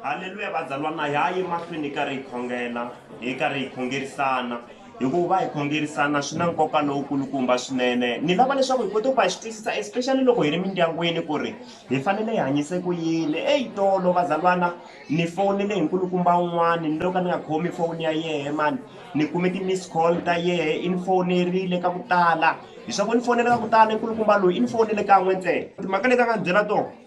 haleluya vazalwana hi ha yi mahlweni hi karhi hi khongela hi karhi hi khongerisana hikuva hi khongerisana swi na nkoka lowukulukumba swinene ni lava leswaku hi kota ku va hi swi twisisa especially loko hi ri mindyangwini ku ri hi fanele hi hanyise ku yini eyi tolo vazalwana ni fowunele hi nkulukumba un'wani ni lo ka ni nga khomi fowuni ya yehe mani ni kume ti-miss call ta yehe i ni fowunerile ka ku tala hi swa ku ni fowunele ka ku tala nkulukumba loyi i ni fowunele kan'we ntsena timhaka leti a nga ni byela tona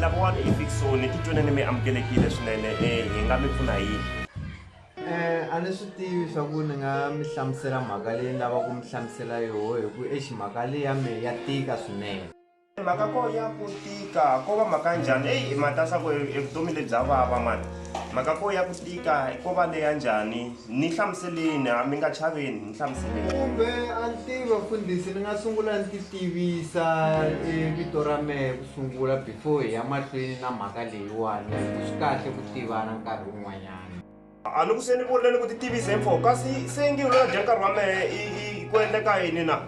lavawana efiksoni titwenani mi amukelekile swinene eh, hi nga mi pfuna hi Eh, a ni swi tivi swa ku ni nga mi hlamusela mhaka leyi ni lava ku mi hlamusela yoho hi ku exi mhaka leyi ya me ya tika swinene mhaka ko ya ku tika ko va mhaka njhani eyi i matasa ku e vutomi lebya vava mani mhaka ko ya ku tika ko va leya njhani ni hlamuseleni a mi nga chaveni ni hlamuseleni kumbe a ni tivi vafundhisi ni nga sungula ni ti tivisa e vito ra mehe ku sungula before hi ya mahlweni na mhaka leyiwani swi kahle ku tivana nkarhi wun'wanyana A ni ku se ni vonile ni ku ti tivise hi mfoko kasi se ngi lona dya nkarhi wa mehe i i ku endleka yini na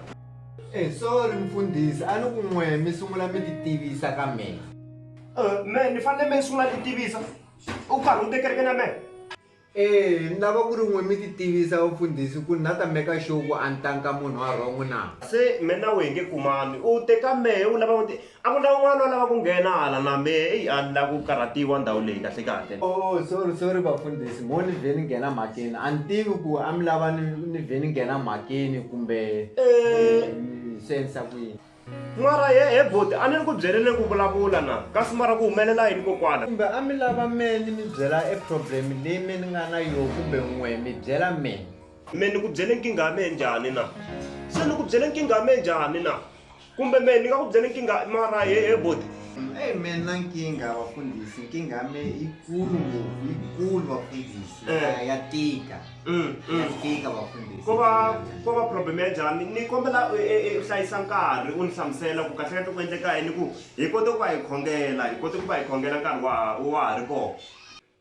Eh sorry mfundhisi a ni ku n'we mi sungula mi ti tivisa ka mina. Eh mehe ni fanele mehe ni sungula ni ti tivisa u karhi u te kerekeni ya mehe. Eh ni lava ku ri n'we mi ti tivisa vamfundhisi ku ni na ta meka sure ku a ni tangi ka munhu wa wrong na. Se mehe na wehe hi nge kumani u te ka mehe u lava u te A ku na un'wana a lava ku nghena hala na mehe eyi a ni lava ku karhatiwa ndhawu leyi kahle kahle. Oh sorry sorry vafundhisi mo ni vhe ni nghena mhakeni a ni tivi ku a mi lava ni ni vhe ni nghena mhakeni kumbe ni swi endlisa ku yini Mara he he boti a ni ri ku byeleni ku vulavula na kasi mara ku humelela yini kokwana. kumbe a mi lava mehe ni mi byela e problem leyi me ni nga na yoho kumbe n'we mi byela mehe Me ni ku byele nkingha ya mehe njhani na? Se ni ku byele nkingha ya mehe njhani na? Kumbe mehe ni nga ku byela nkingha mara he he boti. Eyi me na nkingha vafundhisi nkingha ya me yikulu ngopfu yikulu vafundhisi Eh. ya tika Mm, ya mm. tika vafundhisi Ko va ko va problem ya njhani? Ni kombela u e- e- u hlayisa nkarhi u ni hlamusela ku kahlekahle ku endleka yini ku hi kote ku va hi khongela hi kote ku va hi khongela nkarhi wa ha wa ha ri kona.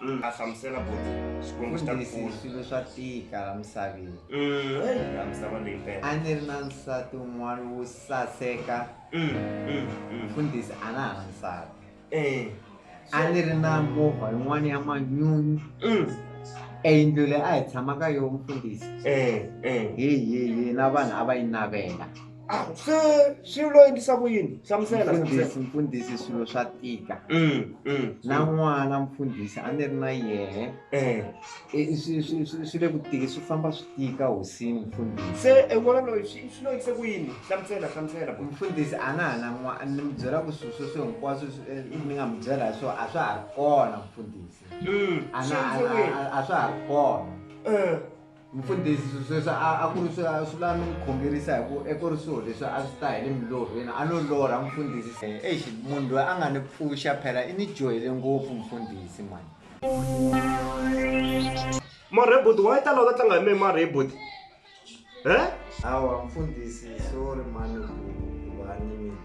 Mm. a hlamusela boti xikwembu xi ta ku pfuna swilo swa tika la misaveni mm, la misava leyi mpela a ni ri na nsati un'wana wo saseka mfundhisi mm, a na ha na nsati eh. a ni ri na movha yin'wana ya manyunyu eyindlu leyi a hi tshama ka yoho mfundhisi eh, eh. heyi heyi na vanhu a va yi navela Ah, se swi lo endlisa ku yini hlamusela mfundhisi mfundhisi swilo swa tika mm, mm, na mm. n'wana mfundhisi a ni ri na yehe eh. swi le ku tiki swi famba swi tika hosini mfundhisi se en'wana loyi swi lo endlise ku yini hlamusela hlamusela mfundhisi a na ha na n'wana ni mi byela ku swilo sweswo hinkwaswo eh, ni nga mi byela hi swona a swa ha ri kona mfundhisi a swa ha ri kona eh. Mfundhisi sweswi a a ku ri swi a swi la ni n'wi khongerisa hi ku a ku ri swilo leswi a swi ta hi le milorhweni a no lorha mfundhisi se eish munhu loyi a nga ni pfuxa phela i ni dyohele ngopfu mfundhisi mani Marhebut why ta lava ku tlanga hi mehe Marhebut he hawa mfundhisi sorry mani ku va ni mina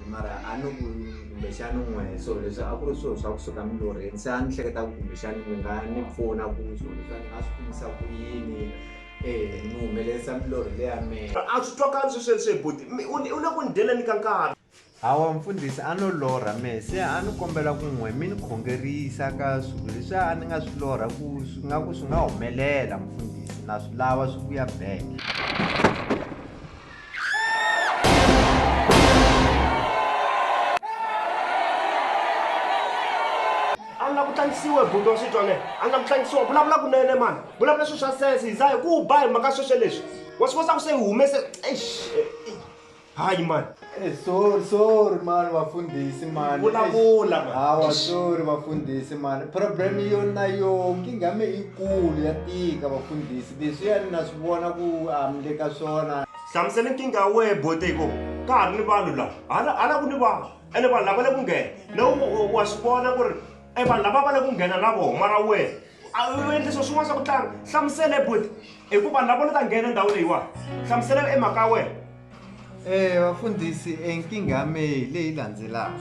mara a ni ku kumbexani n'we so leswi a ku ri swilo swa kusuka milorheni se a ni hleketa ku kumbexani mi nga ni pfuna ku swilo leswi a ni nga swi kumisa ku yini um ni humelerisa milorhi leya mehe a swi twakali swesweswe buti u le ku ni dyela ni ka nkarhi hawa mfundhisi a no lorha mehe se a ni kombela ku n'we mi ni khongerisa ka swilo leswi a ni nga swi lorha ku swi nga ku swi nga humelela mfundhisi na swi lava swi vuya back a ni la ku tlangisiwa hi buti wa xitwa ne a ni la ku tlangisiwa vulavula kunene mani vulavula swilo swa sense hi za hi ku ba hi mhaka sweswe leswi wa swi kosa ku se hi humese eish hayi mani Eh, sorry sorry mani vafundhisi mani Vulavula, mani. hawa sorry vafundhisi mani problem yo na yo nkingha me ikulu ya tika vafundhisi Leswiya na swi vona ku a mi le ka swona. Hlamusela nkingha ya wehe bote hi ko ka ha ri ni vanhu laha hala hala ku ni vanhu ene vanhu lava le ku nghena na wa swi vona ku ri e vanhu lava va le ku nghena na vona mara wehe a u endle swo swin'wana swa ku tlanga hlamusela hi bote hi ku vanhu lava ni ta nghena ndhawu leyiwani hlamusela e mhaka ya wena e vafundhisi e nkingha ya mehe leyi landzelaka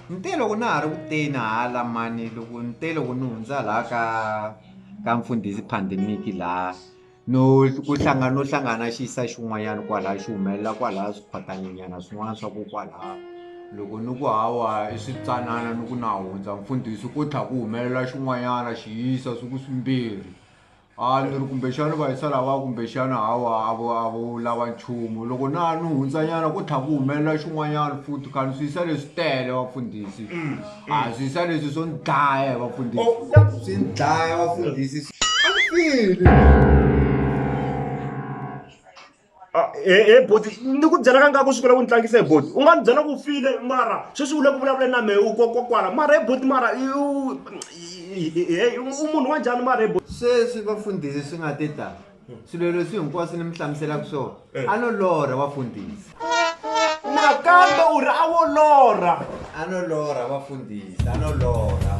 ni te loko na ha ri ku teni hala mani loko ni te loko ni hundza laha ka ka mfundhisi pandemic laha no ku hlangana no hlangana xi yisa xin'wanyana kwala xi humelela kwala swikhwatani nyana swin'wana swa ku kwala loko ni ku hawa i switsanana ni ku na hundza mfundhisi ku tlha ku humelela xin'wanyana xi yisa swi ku swimbirhi a ni ri kumbexana va yisa lava kumbexana hawa a vo a vo lava nchumu loko na ni hundzanyana ku tlha ku humelela xin'wanyana futhi khani swi yisa leswi tele vafundhisi. a swi swa leswi swo ni dlaya hi vafundhisi oh, swi ni dlaya vafundhisi ah, e, e boti ni ku byela ka nkaku swi kula ku ni tlangisa hi boti u nga ni byela ku file mara sweswi u le ku vulavuleni na mehe u kokwakwala mara hi boti mara u munhu wa njhani mara hi boti sweswi vafundhisi swi nga te tani swilo leswi hinkwaswo ni mi hlamuselaka swona a no lorha vafundhisi nakambe u ri a wo lorha a no lorha vafundhisi a no lorha